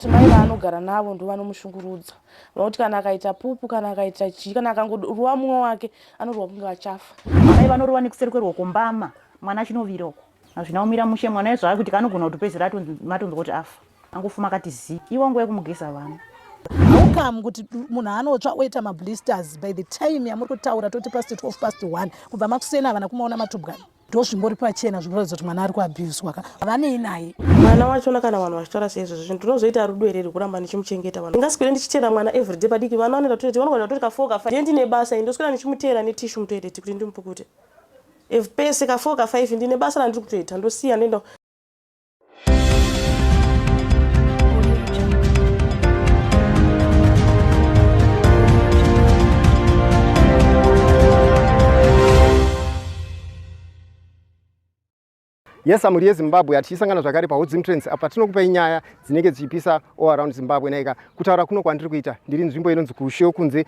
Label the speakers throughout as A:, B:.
A: Kuti mai vaanogara navo ndovanomushungurudza vanoti kana akaita pupu kana akaita chii kana akangoruwa mumwe wake anoruwa kunge achafa. Mai vanoruwa nekuseri
B: kweruoko mbama mwana achinovira uko hazvina kumira mushe mwana ezvava kuti kanogona kuti pedzera matonzwa kuti afa angofuma akati zii iwa nguva yekumugeza vana haukamu
C: kuti munhu anotsva oita mablisters by the time yamuri kutaura toti past 12 past 1 kubva makuseni havana kumaona matubwani ndozvimbori pachena zvinoratidza kuti mwana ari kuabhuzwa ka vanei naye mwana wachona kana
A: vanhu vachitaura seizvozvo zvinhu tinozoita rudo here rekuramba ndichimuchengeta vanhu ndingaswere ndichiteera mwana everyday padiki vana vanoenda toileti vanogona kutori kafoo kafa ye ndine basa i ndoswera ndichimuteera netishu mutoileti kuti ndimupukute if pese kafoo kafive ndine basa randiri kutoita ndosiya ndoenda
D: Yes, amuri yeZimbabwe hatichisangana zvakare paHodzim Trends apa tinokupai nyaya dzinenge dzichipisa all around Zimbabwe naika kutaura kuno kwandiri kuita ndiri nzvimbo inonzi kuSheo kunze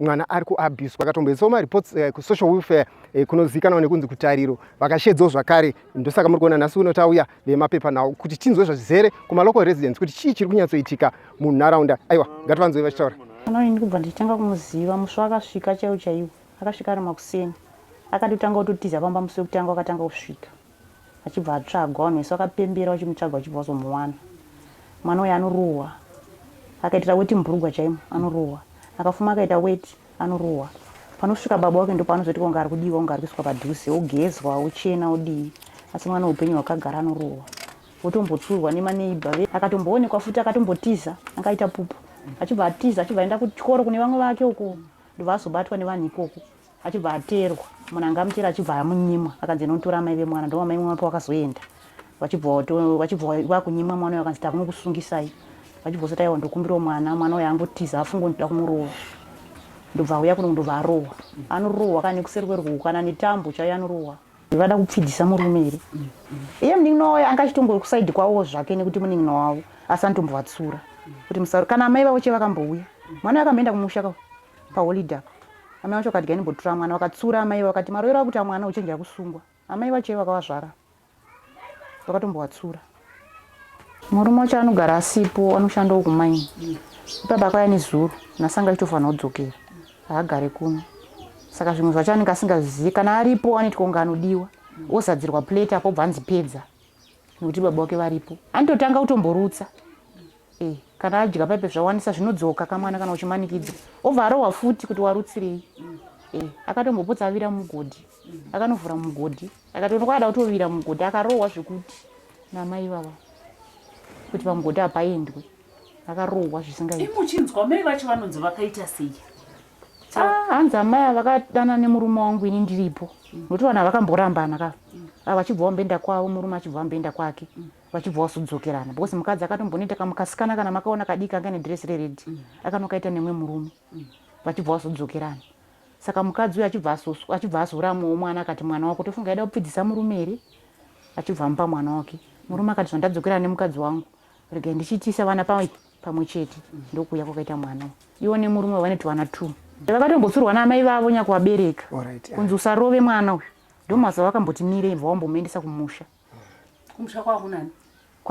D: mwana ari kuabuswa akatomboisawo mareports uh, kusocial welfare uh, kunozivikanwa nekunzi kutariro vakashedzawo zvakare ndosaka muri kuona nhasi uno tauya vemapepa nawo kuti tinzwe zvazvizere kumalocal residence kuti chii chiri kunyatsoitika munharaunda aiwa ngativanzoi vachitaura kana ini kubva ndichitanga
B: kumuziva musvo akasvika chaiwo chaiwo akasvika ari makuseni akatotanga kutotiza pamba musi wekutanga wakatanga kusvika Achibva atsvagwa vanhu vese vakapembera vachimutsvaga vachibva vazomuwana. Mwana uyu anorohwa akaitira weti mubhurugwa chaimo anorohwa akafuma akaita weti anorohwa panosvika baba wake ndopaanozoti kunge ari kudiwa kunge ari kuiswa padhuze ogezwa ochena odii asi mwana upenyu hwakagara anorohwa otombotsurwa nemaneibha ve akatomboonekwa futi akatombotiza akaita pupu achibva atiza achibva aenda kuchikoro kune vamwe vake uko ndobva azobatwa nevanhu ikoko achibva ateerwa munhu anga amuteera achibva amunyimwa akanzi inotora amai vemwana ndo amai mwana pawakazoenda vachibva vakunyimwa mwana uyo akanzi takunokusungisai vachibva usati aiwa ndokumbirawo mwana mwana uyo angotiza afunga ndida kumurowa ndobva auya kuno ndobva arohwa anorohwa kana nekuseri kwerukuku kana netambo chaiyo anorohwa vada kupfidisa murume here iye munin'ina wavo anga achitongori kusaidi kwavo zvake nekuti munin'ina wavo asi anotombovatsura kuti musaro kana amai vavo che vakambouya mwana akamboenda kumusha ka Paholiday apa amai vacho vakati gainimbotura mwana vakatsura amai vakati maroiro akuti amwana uchenjera kusungwa amai vacho vakavazvara vakatombovatsura murume wacho anogara asipo anoshandawo kumaini ipapa akauya nezuro nhasi anga achitofanira kudzokera haagare kuno saka zvimwe zvacho anenge asingazvizivi kana aripo anoitwa kunge anodiwa ozadzirwa plate apo bva anzi pedza nekuti baba wake varipo anototanga kutomborutsa Eh, kana adya paipe zvawanisa zvinodzoka kamwana kana uchimanikidzwa obva arohwa futi kuti warutsirei eh, akatombopotsa avira mugodhi akanovhura mugodhi akatoona kwaada kutovira mugodhi akarohwa zvekuti namai vava kuti pamugodhi hapaendwe akarohwa zvisingaichinzwa mai vacho
E: vanonzi vakaita sei ah,
B: hanzi amai avakadana nemurume wangu ini ndiripo nokuti vanhu avakamborambana ka mm. ah, vachibva wamboenda kwavo murume achibva wamboenda kwake mm. vachibva wasudzokerana because mukadzi akatombonoita kamukasikana kana makaona kadii kanga nedress rered mm. akanokaita nemwe murume mm. vachibva wasudzokerana saka mukadzi uyo achibva azoramwawo mwana akati mwana wako tofunga aida kupfidzisa murume here achibva amupa mwana wake murume akati zvandadzokerana nemukadzi wangu regai ndichiitisa vana pamwe chete mm. ndokuuya kwakaita mwana iwo nemurume vanoti vana two vakatombosurwa naamai vavo nyakuvabereka kunzi usarove mwana uyu ndomazuva vakamboti mire ibva wambomuendesa kumusha kumusha
E: kwavo kunani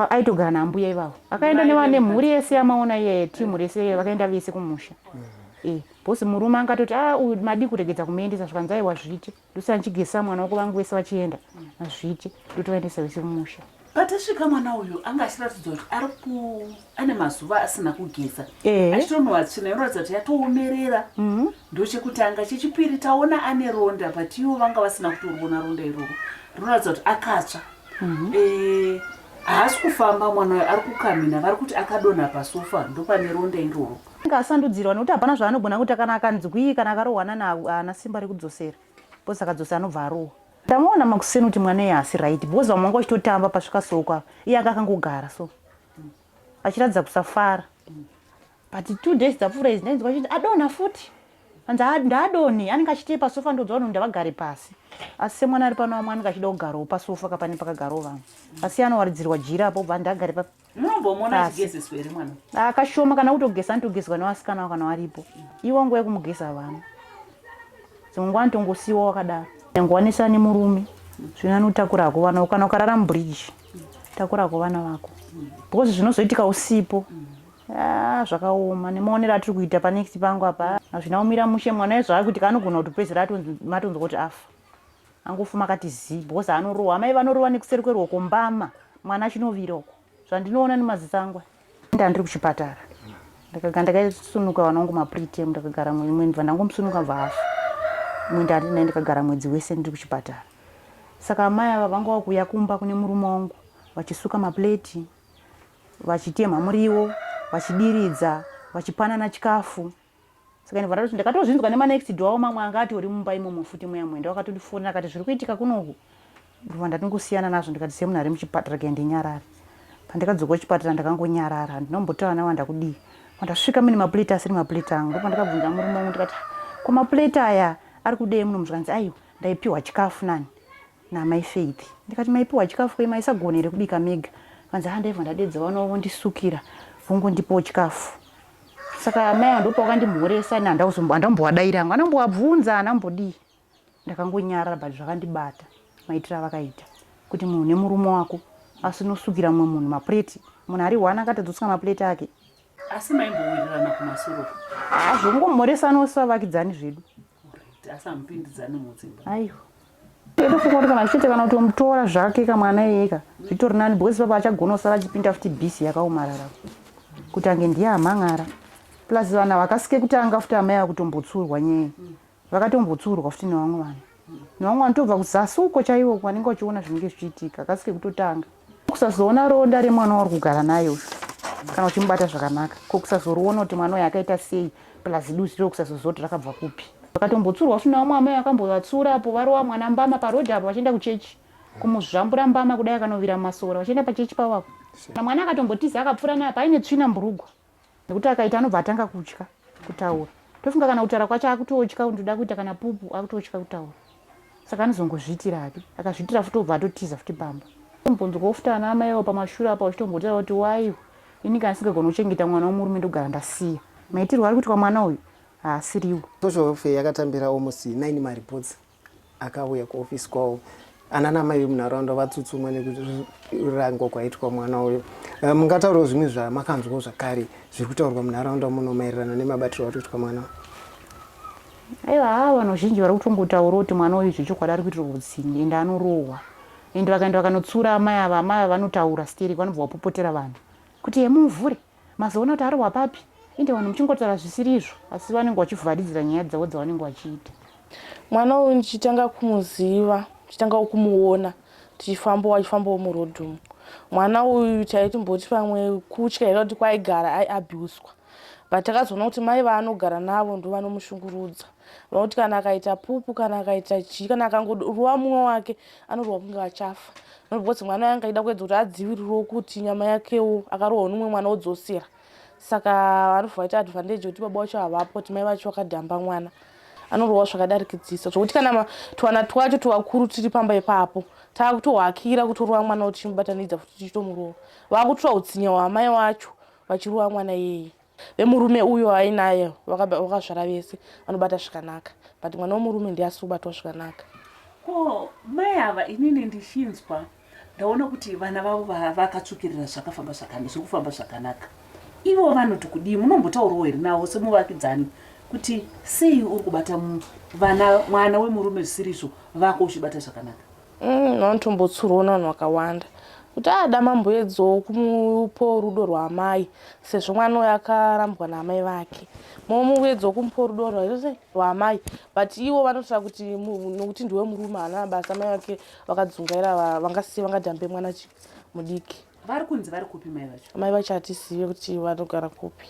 E: aitogara
B: naambuya ivavo akaenda nevane mhuri yese yamaona iye timu rese iye vakaenda vese kumusha mm. eh, bhosi murume angatoti a ah, uyu madii kuregedza kumuendesa zvikanzi aiwa zviti ndosina ndichigesa mwana wako vangu vese vachienda azviti mm. ndotovaendesa vese kumusha patasvika mwana
E: uyu anga achiratidzwa kuti ari ku ane mazuva asina kugeza eh. achitonhuwa tsvina inoratidza kuti yatoomerera mhm. ndochekutanga chechipiri taona ane ronda but ivo vanga vasina kutoriona ronda iroro rinoratidza kuti akatsva mhm. eh, haasi kufamba mwana uyo ari kukamina vari kuti akadonha pasofa ndopane ronda iroro anga asandudzirwa nekuti
B: hapana zvaanogona kuita kana akanzwii kana akarohwana naana simba rekudzosera bcause akadzosa anobva arohwa ndamaona makuseni kuti mwana iye haasi right bcause vamwanga vachitotamba pasvika soko iye anga akangogara so achiratidza kusafara but two days dzapfuura izi ndainzwa chiti adonha futi anzi ndaadonhi anenge achitei pasofa ndoudza vanhu ndavagare pasi asi semwana ari pano vamwe anenge achida kugarawo pasofa kapane pakagarawo vanhu asi anowaridzirwa jira apo bva ndagare pa
E: akashoma kana kutogeza
B: anotogezwa nevasikana avo kana varipo iwo nguva yekumugeza vana dzimwe nguva anotongosiyiwa wakadaro nyangovanisani murume zvino anotakura hako vana kana ukarara mubridge takura kwevana vako because zvinozoitika usipo ah, zvakaoma nemaonero atiri kuita panext pangu apa hazvina kumira mushe mwana ezvaa kuitika anogona kuti pedzera matonzwa kuti afa angofa makati zii because anorohwa amai vanorova nekuseri kweruoko mbama mwana achinovira uko zvandinoona nemaziso angu ndandiri kuchipatara ndakaga ndakaisunuka vana wangu mapretem ndakagara mwedzi mwe ndibva ndangomusunuka bva afa mwenda andiri naye ndikagara mwedzi wese ndiri kuchipatara saka amai ava vanga vakuuya kumba kune murume wangu vachisuka mapleti vachitemha muriwo vachidiridza vachipanana chikafu saka ndibva ndatoti ndakatozvinzwa nemanext door awo mamwe anga atori mumba imomo futi mweya mwenda wakatondifona akati zviri kuitika kunoku ndibva ndatingosiyana nazvo ndikati semunhu ari muchipatara kaya ndinyarare pandikadzoka kuchipatara ndakangonyarara handinombotaura navo ndakudii pandasvika mune maplate asiri maplate angu ndo pandakabvunza murume wangu ndikati ko maplate aya ari kudei muno muzvikanzi aiwa ndaipiwa chikafu nani namai Faith ndikati maipiwa chikafu kwe maisagona here kubika mega vanzi ha ndaibva ndadedza vana vondisukira vongondipawo chikafu saka amai ava ndopa vakandimhoresa ini handambowadaira angu andambowabvunza handambodii ndakangonyarara but zvakandibata maitira avakaita kuti munhu nemurume wako asi unosukira mumwe munhu mapureti munhu ari one akatadzosuka mapureti ake asi
E: maimbowirirana kumasoro hazvongomhoresanosi
B: vavakidzani zvedu
E: asamupindidzane mudzimba
B: aiwa ndofunga kuti kana zvichiite kana kutomutora zvake ka mwana iyeka zvitori nani because papa achagona kusara achipinda futi bisi yakaomarara kuti ange ndiye amhan'ara plus vanhu havakasike kutanga futi amai ava kutombotsurwa nyeye vakatombotsurwa futi nevamwe vanhu nevamwe vanhu tobva kuzasi uko chaiwo vanenge vachiona zvinenge zvichiitika akasike kutotanga kusazoona ronda remwana wauri kugara naye uyu kana uchimubata zvakanaka ko kusazoriona kuti mwana uyu akaita sei plus duzi riro kusazoziva kuti rakabva kupi vakatombotsura usina vamwe amai vakambovatsura apo varova mwana mbama parodhi apo vachienda kuchechi kumuzvambura mbama kudai akanovira masora vachienda pachechi pavo apo na mwana akatombotiza akapfura naye paine tsvina mburugwa nekuti akaita anobva atanga kutya kutaura tofunga kana kutaura kwacho akutotya ndoda kuita kana pupu akutotya kutaura saka anozongozviitira hake akazviitira futi obva atotiza futi pamba mubvunzo kofuta ana amaiwo pamashure apa uchitombotira kuti waiwo ini kana singagona kuchengeta mwana womurume ndogara ndasiya maitirwo ari kuitwa mwana uyu haasiriwo social welfare
D: yakatambirawo musi 9 mareports akauya kuofisi kwavo ana namai vemunharaunda vatsutsumwa nekurangwa kwaitwa mwana uyo eh, mungataurawo zvimwe zvamakanzwawo zvakare zviri kutaurwa munharaunda muno maererano nemabatirwo atoitwa mwana aiwa haa
B: vanhu vazhinji vari kutongotaurawo kuti mwana uyu zvechokwadi ari kuitirwa utsinye ende anorohwa ende vakaenda vakanotsura amai ava amai ava vanotaura sterek vanobva vapopotera vanhu kuti hemumuvhure Mazoona kuti arohwa papi. Ende vanhu muchingotaura zvisiri izvo asi vanenge vachivharidzira nyaya dzavo dzavanenge vachiita. Mwana uyu
A: ndichitanga kumuziva, ndichitangawo kumuona tichifambawo achifambawo muroad umu. Mwana uyu taitimboti pamwe kutya here kuti kwaigara aiabuswa but takazoona kuti mai vaanogara navo ndovanomushungurudza. Vanokuti kana akaita pupu kana akaita chii kana akangoruwa mumwe wake anoruwa kunge achafa because mwana yange aida kuedza kuti adzivirirwo kuti nyama yakewo akarohwa nomumwe mwana odzosera saka vanobva vaita advantage yekuti baba wacho havapo kuti mai vacho vakadhamba mwana anorohwa zvakadarikidzisa zvokuti kana twana twacho twakuru tiri pamba ipapo taakutohakira kutorowa mwana kuti chimubatanidza futi tichitomurohwa vakutoa utsinya hwamai wacho vachirowa mwana iyeye vemurume uyo ainaye vakazvara vese vanobata zvikanaka but mwana wemurume ndiye asiri kubatwa zvikanaka ko
E: mai ava inini ndichinzwa ndaona kuti vana vavo vakatsvukirira zvakafamba zvakanaka zvekufamba zvakanaka ivo vanoti kudii munombotaurawo here navo semuvakidzani kuti sei uri kubata vana mwana wemurume zvisirizvo vako uchibata zvakanaka Mm, vanotombotsurwa
A: navanhu vakawanda kuti ada mambo edzowo kumupo rudo rwaamai sezvo mwana uyo akarambwa naamai vake momuedzowo kumupo rudo rwaamai but iwo vanotora kuti nokuti ndiwe murume haana basa amai vake vakadzungaira vangasiye vangadambe mwana mudiki vari kunzi vari
E: kupi mai vacho mai vacho hatizive
A: kuti vanogara kupi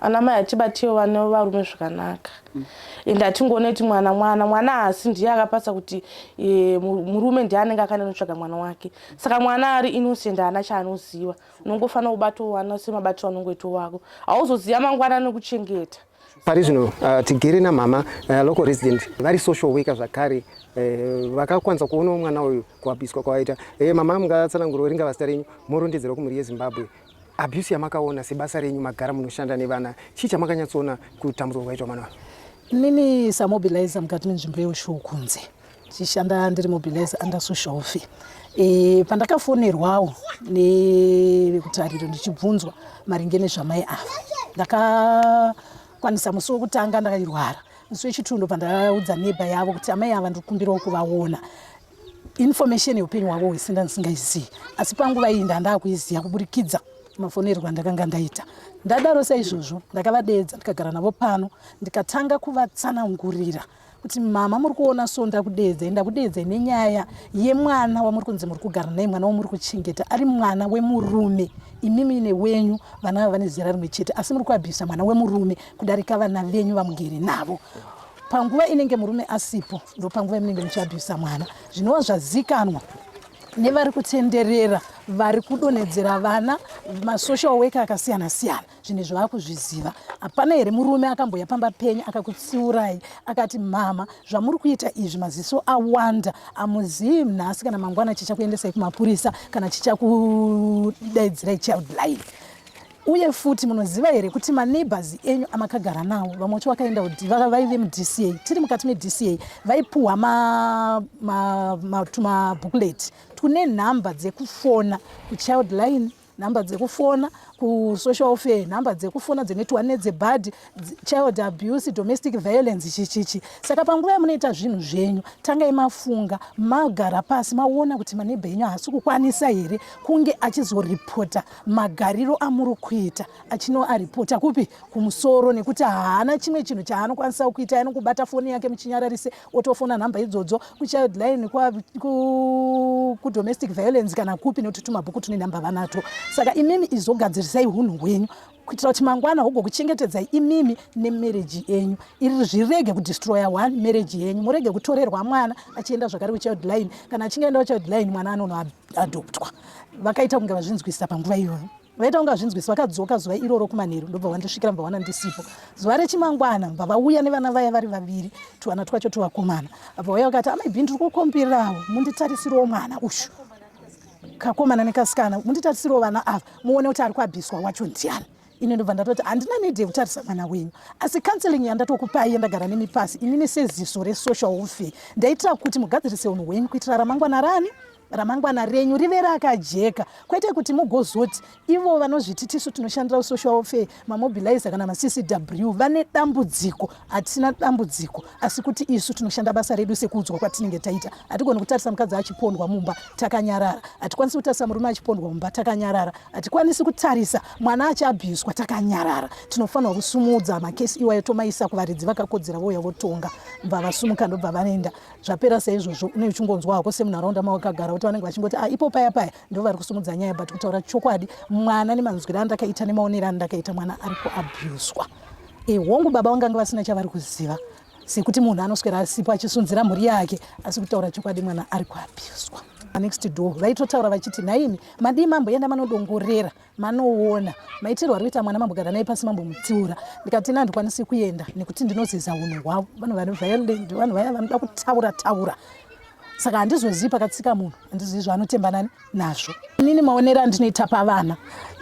A: ana mai hatibatiwo vane varume zvakanaka mm. and hatingoone kuti mwana mwana mwana haasi ndiye akapasa kuti e, murume ndiye anenge akaenda notsvaga mwana wake saka mwana ari innocent haana chaanoziva unongofanira kubatowana semabatiro anongoito wako hauzoziva mangwana nokuchengeta Pari
D: zvino uh, tigere namama uh, local resident vari social worker zvakare uh, vakakwanisa kuonawo mwana uyu kuabiswa kwavaita hey, eh, mama mungatsanangurwa ringa vazita renyu morondedzerwa kumhuri yezimbabwe abuse yamakaona sebasa renyu magara munoshanda nevana chii chamakanyatsoona kutambudzwa kwaitwa mwana uyu inini
C: samobilizer mukati menzvimbo yeushuu kunze ndichishanda ndiri mobilise under social fe e, pandakafonerwawo nevekutariro ndichibvunzwa maringe nezvamai ava ndakakwanisa musi wekutanga ndakairwara musi wechitundo pandaudza neba yavo kuti amai ava ndikumbirawo kuvaona information yeupenyu hwavo hwese ndandisingaizivi asi panguva iyi ndandakuiziva kuburikidza mafonerwa ndakanga ndaita ndadaro saizvozvo ndakavadeedza ndikagara navo pano ndikatanga kuvatsanangurira kuti mama muri kuona so ndakudeedzai ndakudeedzai nenyaya yemwana wamuri kunzi muri kugara naye mwana wamuri kuchengeta ari mwana wemurume imimi newenyu vana vava vane zera rimwe chete asi muri kuabhisa mwana wemurume kudarika vana venyu vamugere navo panguva inenge murume asipo ndopanguva imunenge muchiabhisa mwana zvinova zvazikanwa nevari kutenderera vari kudonhedzera vana masocial worker akasiyana siyana zvinhu izvi vakuzviziva hapana here murume akamboya pamba penyu akakutsiurai akati mama zvamuri kuita izvi maziso awanda amuzivi nhasi kana mangwana chichakuendesai kumapurisa kana chichakudaidzirai child life uye futi munoziva here kuti maneighbors enyu amakagara nawo vamwe vacho vakaenda kuti vaive mudca tiri mukati medca vaipuhwa matumabookleti tune nhamba dzekufona kuchild line nhamba dzekufona kusocial welfare nhamba dzekufona dzenetwa nedzebad child abuse domestic violence chichichi saka panguva yamunoita zvinhu zvenyu tangai mafunga magara pasi maona kuti manebha enyu haasi kukwanisa here kunge achizoripota magariro amuri kuita achinoaripota kupi kumusoro nekuti haana chimwe chinhu chaanokwanisa kuita anokubata foni yake muchinyararise otofona nhamba idzodzo kuchild line kudomestic violence kana kupi nekuti tumabhuku tune nhamba vanato saka imimi izogadzirisai hunhu hwenyu kuitira kuti mangwana hogokuchengetedzai imimi nemereji yenyu iri zvirege kudestroya one mereji yenyu murege kutorerwa mwana achienda zvakare kuchild line kana achinge aenda kuchild line mwana anonoadoptwa vakaita kunge vazvinzwisisa panguva iyoyo vaita kunge hazvinzwisi vakadzoka zuva iroro kumanheru ndobva vandisvikira mva wana ndisipo zuva rechimangwana mva vauya nevana vaya vari vaviri tuvana twacho tuvakomana abva vauya vakati amai bhini tiri kukombirawo munditarisiriwo mwana ushu kakomana nekasikana munditarisiriwo vana ava muone kuti ari kuabhiswa wacho ndiani ini ndobva ndatoti handina need yekutarisa mwana wenyu asi counseling yandatokupai yandagara nemi pasi inini seziso resocial warfare ndaitira kuti mugadzirise unhu hwenyu kuitira ramangwana rani ramangwana renyu rive rakajeka kwete kuti mugozoti ivo vanozviti tisu tinoshandira usocial welfare mamobilizer kana maccw vane dambudziko hatina dambudziko asi kuti isu tinoshanda basa redu sekuudzwa kwatinenge taita hatigoni kutarisa mukadzi achipondwa mumba takanyarara hatikwanisi kutarisa murume achipondwa mumba takanyarara hatikwanisi kutarisa mwana achabhiswa takanyarara tinofanirwa kusumudza makesi iwayo tomaisa kuvaridzi vakakodzera vouya votonga mbavasumuka ndobva vanoenda zvapera seizvozvo une uchingonzwa hako semunharaunda mawakagara kuti vanenge vachingoti ah, ipo paya paya ndo vari kusimudza nyaya but kutaura chokwadi mwana nemanzwira andakaita nemaonero andakaita mwana ari kuabhuswa e eh, hongu baba vangange vasina chavari kuziva sekuti munhu anoswera asipo achisunzira mhuri yake asi kutaura chokwadi mwana ari kuabhuswa next door vaitotaura vachiti nhaimi madii mamboenda manodongorera manoona maitirwo ari kuita mwana mambogara naye pasi mambomutsiura ndikati ina handikwanisi kuenda nekuti ndinozeza unhu hwavo vanhu vane violent vanhu vaya vanoda kutaura taura saka handizozivi pakatsika munhu handizivi zvaanotembanani nazvo inini maonero andinoita pavana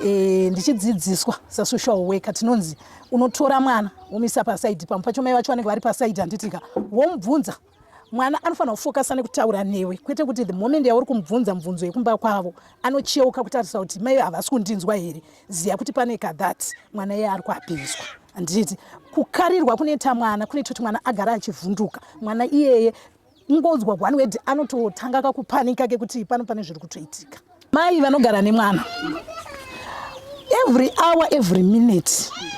C: e, ndichidzidziswa sasocial worker tinonzi unotora mwana womisa pasaidi pamwe pacho mai vacho vanenge vari pasaidi handitika womubvunza mwana anofanira kufokasa nekutaura newe kwete kuti the moment yauri kumubvunza mubvunzo yekumba kwavo anocheuka kutarisa kuti mai havasi kundinzwa here ziya kuti pane kathat mwana iye ari kuapinzwa handiti kukarirwa kunoita mwana kunoita kuti mwana agara achivhunduka mwana iyeye ingonzwa one wed anototanga kakupanika kekuti pano pane zviri kutoitika Mai vanogara nemwana every hour every minute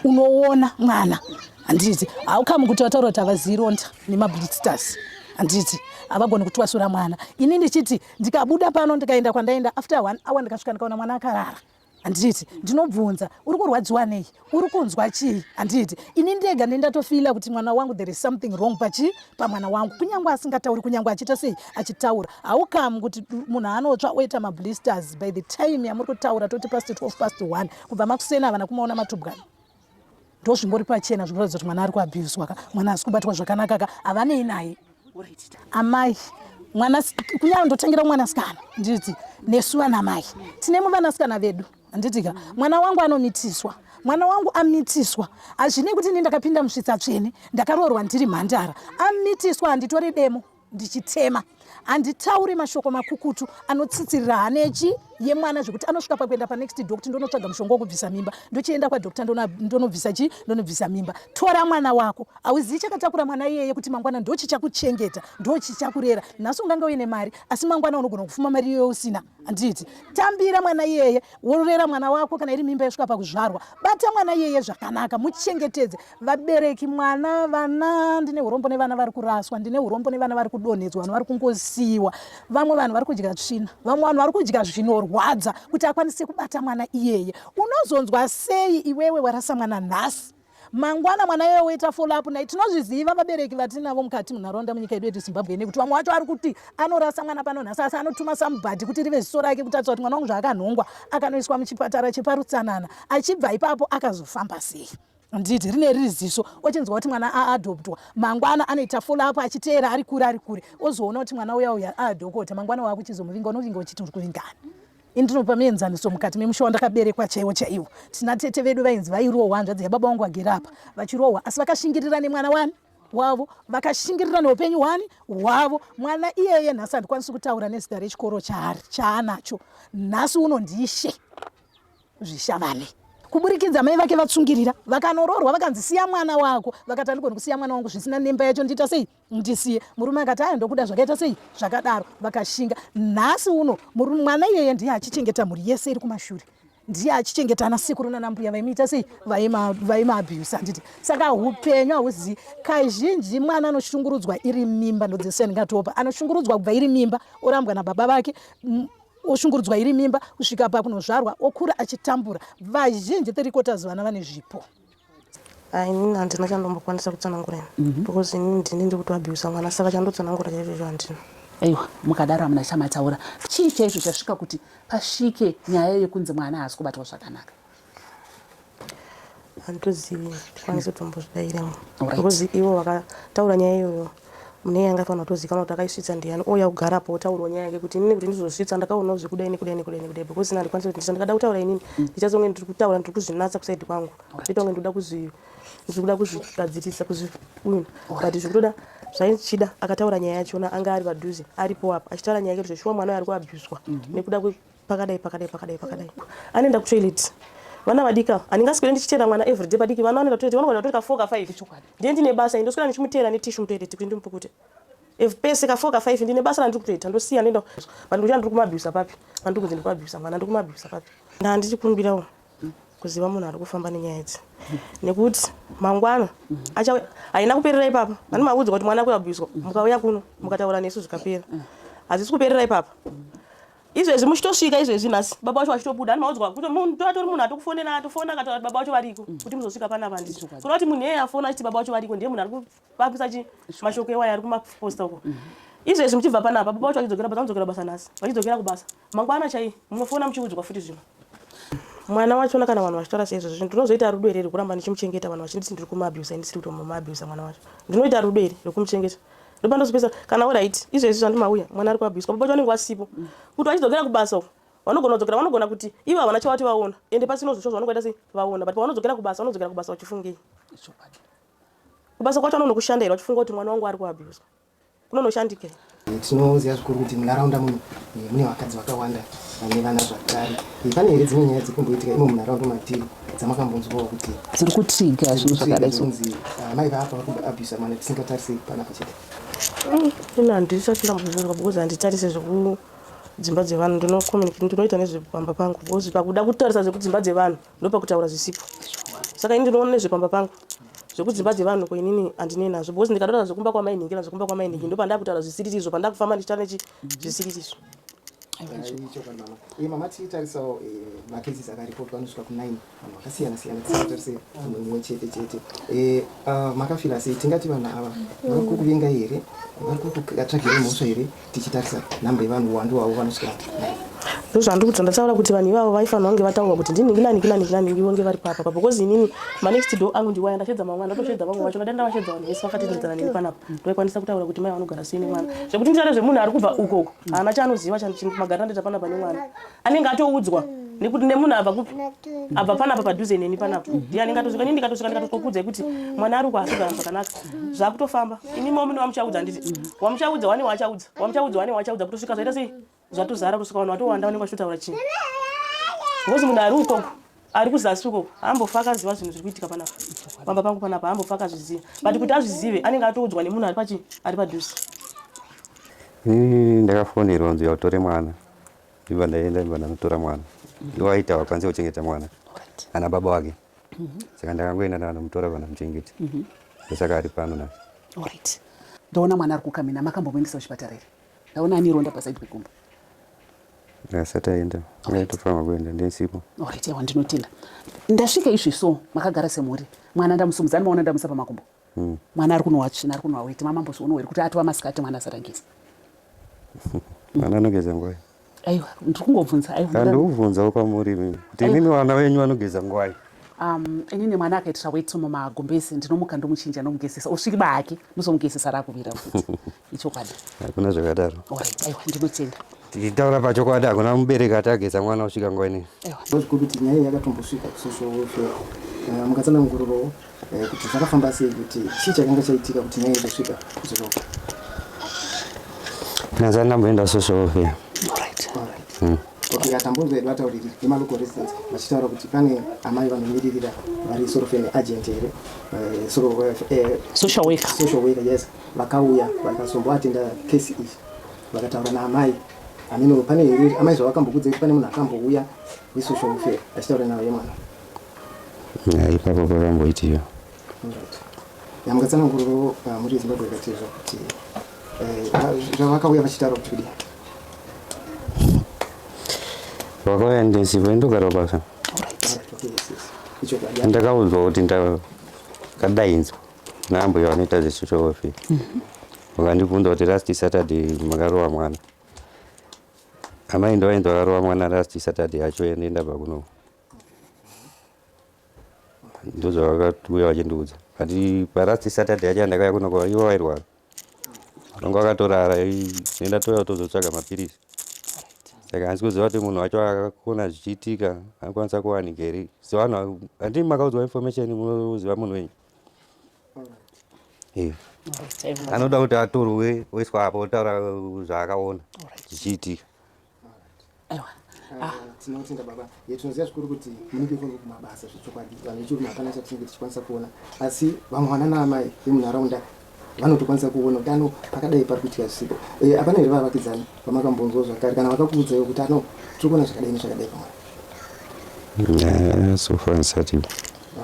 C: unoona mwana handiti haukamu kuti vataura kuti havaziironda nemablisters handiti havagoni kutwasura mwana ini ndichiti ndikabuda pano ndikaenda kwandaenda after one hour ndikasvika ndikaona mwana akarara handiti ndinobvunza uri kurwadziwa nei uri kunzwa chii handiti ini ndega nendatofila kuti mwana wangu there is something wrong pachii pamwana wangu kunyange asingatauri kunyange achiita sei achitaura haukamu kuti munhu anotsva oita mablisters by the time yamuri kutaura toti past 12 past 1 kubva makuseni havana kumaona matubwana ndo zvingori pachena zvinoratidza kuti mwana ari kuabhuswa ka mwana hasi kubatwa zvakanaka ka havanei naye amai mwana kunyange ndotangira mwanasikana nditi nesu vanamai tine muvanasikana vedu handitika mwana wangu anomitiswa mwana wangu amitiswa hazvinei kuti ini ndakapinda musvitsa tsvene ndakaroorwa ndiri mhandara amitiswa handitore demo ndichitema handitauri mashoko makukutu anotsitsirira hanechi yemwana zvekuti anosvika pakuenda panext doctor ndonotsvaga mushonga wokubvisa mimba ndochienda kwadoctor ndonobvisa chii ndonobvisa mimba tora mwana wako hauzivi chakatakura mwana iyeye kuti mangwana ndochichakuchengeta ndochichakurera nhasi ungange uine mari asi mangwana unogona kufuma mari iyoyo usina handiti tambira mwana iyeye worera mwana wako kana iri mimba yosvika pakuzvarwa bata mwana iyeye zvakanaka muchengetedze vabereki mwana vana ndine urombo nevana vari kuraswa ndine urombo nevana vari kudonhedzwa vanhu vari kungosiyiwa vamwe vanhu vari kudya tsvina vamwe vanhu vari kudya zvinorwadza kuti akwanise kubata mwana iyeye unozonzwa sei iwewe warasa mwana nhasi mangwana mwana iye woita follow up naye tinozviziva vabereki vatinavo mukati munharaunda munyika yedu yedu zimbabwe ine kuti vamwe wacho ari kuti anorasa mwana pano nhasi asi anotuma sambhadhi kuti rive ziso rake kutatisa kuti mwana wangu zvaakanhongwa akanoiswa muchipatara cheparutsanana achibva ipapo akazofamba sei nditi rine riri ziso ochinzwa kuti mwana aadoptwa mangwana anoita follow up achiteera ari kure ari kure ozoona kuti mwana uya uya aadokota mangwana waakuchizomuvinga unovinga uchiti uri kuvingani Indinopa mienzaniso mukati memusha wandakaberekwa chaiwo chaiwo. Tina tete vedu vainzi vairohwa hanzvadzi yababa wangu vagere apa vachirohwa asi vakashingirira nemwana wani wavo vakashingirira neupenyu hwani hwavo mwana iyeye nhasi handikwanisi kutaura nezita rechikoro chaari chaanacho nhasi uno ndiishe zvishavane kuburikidza mai vake vatsungirira vakanoroorwa vakanzi siya mwana wako vakati andigoni kusiya mwana wangu zvisina nemba yacho ndiita sei ndisiye murume akati aya ndokuda zvakaita sei zvakadaro vakashinga nhasi uno mwana iyeye ndiye achichengeta mhuri yese iri kumashure ndiye achichengeta ana sekuru nanambuya vaimuita sei vaimaabuse handiti saka upenyu hauzivi kazhinji mwana anoshungurudzwa iri mimba ndodzese ndingatopa anoshungurudzwa kubva iri mimba orambwa nababa vake oshungurudzwa iri mimba kusvika pakunozvarwa okura achitambura vazhinji three quarters vana vane zvipo Ah,
A: inini handina chandombokwanisa kutsanangura ini mm -hmm. because inini ndini ndiri kutoabhiusa mwana saka chandotsanangura chaizvozvo handina aiwa mukadaro
E: hamuna chamataura chii chaizvo chasvika kuti pasvike nyaya yekunzi mwana haasi kubatwa zvakanaka
A: handitozivi tikwanise tombozvidairemo because ivo vakataura nyaya iyoyo Mune yanga ifanira kutozikanwa kuti akaisvitsa ndiani ouya kugara apo otaurwa nyaya yake kuti inini kuti ndizozvitsa ndakaonawo zvekudai nekudai nekudai nekudai because ini handikwanisi kuti ndisa ndikada kutaura inini mm. ndichazonge ndiri kutaura ndiri kuzvinatsa kusaidi kwangu zvoita kunge ndikuda kuzvi ndiri kuda kuzvigadzirisa kuzviwina but zvekutoda zvaichida akataura nyaya yachona anga ari padhuze aripo apa achitaura nyaya yake kuti zveshuwa mwana uyo ari kuabhuswa mhm. nekuda pakadai pakadai pakadai pakadai anoenda kutoilet vana vadika handingaswere ndichiteera mwana everyday padiki vana vanoenda kutoilet vanogona kutorika four ka five ndiye ndine basa i ndoswera ndichimuteera netishu mutoilet kuti ndimupukute if pese ka four ka five ndine basa randiri kutoita ndosiya ndoenda vanhu kuti andiri kumabhisa papi andiri kunzi ndikumabhisa mwana andiri kumabhisa papi ndaa ndichikumbirawo kuziva munhu ari kufamba nenyaya idzi nekuti mangwana achauya haina kuperera ipapa ani maudzwa kuti mwana kuabhiswa mukauya kuno mukataura nesu zvikapera hazvisi kuperera ipapa izvezvi muchitosvika izvezvi nhasi baba vacho vachitobuda ani maudzwa kuti munhu atori munhu atokufonera atofona akataura kuti baba vacho variko mm. kuti muzosvika pana vandi kuda kuti munhu iyeye afona achiti baba vacho variko ndiye munhu ari kuvakisa chi mashoko ewaya ari kumaposta uko mm. izvezvi muchibva panapa baba vacho vachidzokera basa vanodzokera basa nhasi vachidzokera kubasa mangwana chaiye munofona muchiudzwa futi zvino mwana wacho ona kana vanhu vachitaura seizvozvo zvinhu ndinozoita rudo here rekuramba ndichimuchengeta vanhu vachinditi ndiri kumuabusa ndisiri kuti mumabusa mwana wacho ndinoita rudo here rekumuchengeta ndopandozopesa kana orit izvezvi zvandimauya mwana ari kuabuswa baba vacho vanenge vasipo kuti vachidzokera kubasa uko vanogona kudzokera vanogona kuti ivo havana chavati vaona ende pasino zvisvo zvavanongoita sei vaona but pavanodzokera kubasa vanodzokera kubasa vachifungei kubasa kwacho vanonokushanda here vachifunga kuti mwana wangu ari kuabuswa kunonoshandikei tinoziva
D: zvikuru kuti munharaunda muno eh, mune vakadzi vakawanda vane vana zvakare eh, pane here dzimwe nyaya dziri kumboitika imo munharaunda matiri dzamakambonzwawo kuti dziri kutriga
E: zvinhu zvakadaizonzi ah, mai
D: vaapa vari kuabusa mwana tisingatarise pana pachete mm,
A: ina handisati ndambozvinzwa because handitarise zvekudzimba dzevanhu ndinoita nezvepamba pangu because pakuda kutarisa zvekudzimba dzevanhu ndopakutaura zvisipo saka ini ndinoona nezvepamba pangu zvekudzimba dzevanhu ko inini handinei nazvo because ndikataura zvekumba kwamainhingira zvekumba kwamainhingi ndo pandaa kutaura zvisiririzvo pandaa kufamba ndichita nechi zvisiririzvo eh,
D: mama tiitarisawo eh, makesis akaripotwa anosvika kunin vanhu vakasiyana siyana tisatarise munhu mumwe chete chete eh, ah, makafira sei tingati vanhu ava vari kukuvengai here vari kukutsvagirei mhosva here tichitarisa nhamba yevanhu huwandu hwavo vanosvika
A: ndozvandiri kuti ndataura kuti vanhu ivavo vaifanira kunge vataurwa kuti ndinikinanikinanikinani ivo nge vari papa pa because inini manext do angu ndiwaya ndashedza mamwe ndatoshedza vamwe vacho ndadai ndavashedza vanhu vese vakatendedzana neni panapa ndoikwanisa kutaura kuti mai vanogara sei nemwana zvekuti nditare zvemunhu ari kubva ukoko haana chaanoziva magariro andoita panapa nemwana anenge atoudzwa nekuti nemunhu abva kupi abva panapa padhuze neni panapa ndiye anenge atosvika ini ndikatosvika ndikatokuudzai kuti mwana ari kuhasogara zvakanaka zvakutofamba ini mwa mune wamuchaudza handiti wamuchaudza wane wachaudza wamuchaudza wane wachaudza kutosvika zvaita sei zvatozara kutosvika vanhu vatowanda vanenge vachitotaura chii ngozi munhu ari ukoko ari kuzasi ukoko hambofa akaziva zvinhu zviri kuitika panapa pamba pangu panapa hambofa akazviziva but kuti azvizive anenge atoudzwa nemunhu ari pachi ari padhuze hmm,
F: ndakafonerwa nzi yautore mwana Ndiva ndaienda ndiva ndanotora mwana iwo aita wakwanisa kuchengeta mwana ana baba wake mhm. saka ndakangoenda ndakanomutora vana muchengeti mhm. ndosaka ari pano na right
E: ndaona mwana ari kukamina makambomuendesa kuchipatara here ndaona ani ronda pasaidi pegumbo
F: asati aenda aitofanirwa kuenda ndisipo right yawa ndinotenda
E: ndasvika izvi so makagara semhuri mwana ndamusumudza ndimaona ndamusa pamakumbo mm. mwana ari kunwa tsvina ari kunwa weti mama mbozviono here kuti atova masikati mwana asati ageza
F: mwana anogeza ngwai aiwa ndiri
E: kungobvunza aiandikubvunzawo
F: kwamuri mimi kuti inini vana venyu vanogeza ngwai um, inini
E: mwana akaitira weti mumagumbezi ndinomuka ndomuchinja ndomugezesa usviki bahake ndozomugezesa rakuvira futi ichokwadi hakuna zvakadaro
F: aiwa
E: ndinotenda tichitaura pachokwadi
F: hakuna mubereki ati ageza mwana usvika nguva inei ndozviko kuti nyaya iyi
D: yakatombosvika kusocial welfare eh, mukatsanangurirawo eh, kuti zvakafamba sei kuti chii chakanga chaitika kuti nyaya izosvika kusocial welfare
F: nazani ndamboenda social welfare
D: hmm. okay atambonzwa edu atauriri nemalocal residents vachitaura kuti pane amai vanomiririra vari sort of an agent here eh,
E: social worker yes Vakauya
D: vakazomboatenda case iyi vakataura naamai hameno pane here amai zvavakambokudza kuti pane munhu akambouya wesocial welfare achitaura navo yemwana
F: ya ipapo pakamboitiwa
D: yamungatsananguriro ah, muri zimbabwe ikatizva kuti eh, zvavakauya vachitaura kuti kudii
F: vakauya ndesipo indogara basa ndakaudzwa kuti ndakadainzwa naambuya vanoita zvesocial welfare vakandibvunza kuti last saturday makarova mwana amai ndo vainzi vakarova mwana last saturday yacho ende ndabva kuno ndozvavakauya vachindiudza kati palast saturday yacho yandakauya kuno kwa ivo vairwara vanga vakatorara enda toya tozotsvaga mapirisi saka hansi kuziva kuti munhu wacho akakona zvichiitika anokwanisa kuwanikeri so vanhu handii makaudzwa information munoziva munhu wenyu anoda kuti atorwe oiswa apa otaura zvaakaona zvichiitika
D: ah. tinotenda baba tinoziva zvikuru kuti munenge kuri kumabasa zvechokwadi vanhu vechiruma hapana chatinenge tichikwanisa kuona asi vamwe vana naamai vemunharaunda vanotokwanisa kuona kuti ano pakadai pari kuitika zvisiko eh, hapana here vavakidzani vamakambonzwa zvakare kana vakakuudzaiwo kuti ano tiri kuona zvakadai nezvakadai pamwana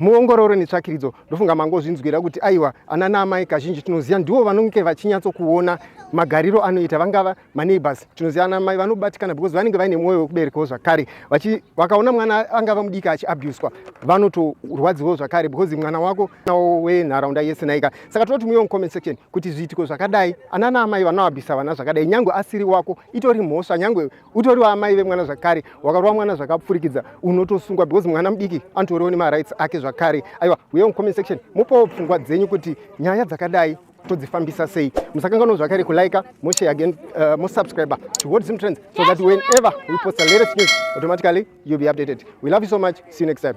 F: muongororo
D: netsvakiridzo ndofunga mangozvinzwira kuti aiwa ana naamai kazhinji tinoziva ndivo vanonge vachinyatsokuona magariro anoita vangava maneighbors tinozivana mai vanobatikana because vanenge vaine mwoyo wekuberekawo zvakare vakaona mwana angava mudiki achiabuswa vanotorwadziwawo zvakare because mwana wako nawo wenharaunda yese naika saka tinoti muyo mucomment section kuti zviitiko zvakadai anana amai vanoabisa vana zvakadai nyange asiri wako itori mhosva nyange utoriwo amai vemwana zvakare wakarova mwana zvakapfurikidza unotosungwa because mwana mudiki anotoriwo nemarights ake zvakare aiwa uyewo mucomment section mupowo pfungwa dzenyu kuti nyaya dzakadai todzifambisa sei musakanganwa zvakare kulike moshare again uh, mosubscriber to world zim trends so that whenever we post the latest news automatically you'll be updated we love you so much see you next time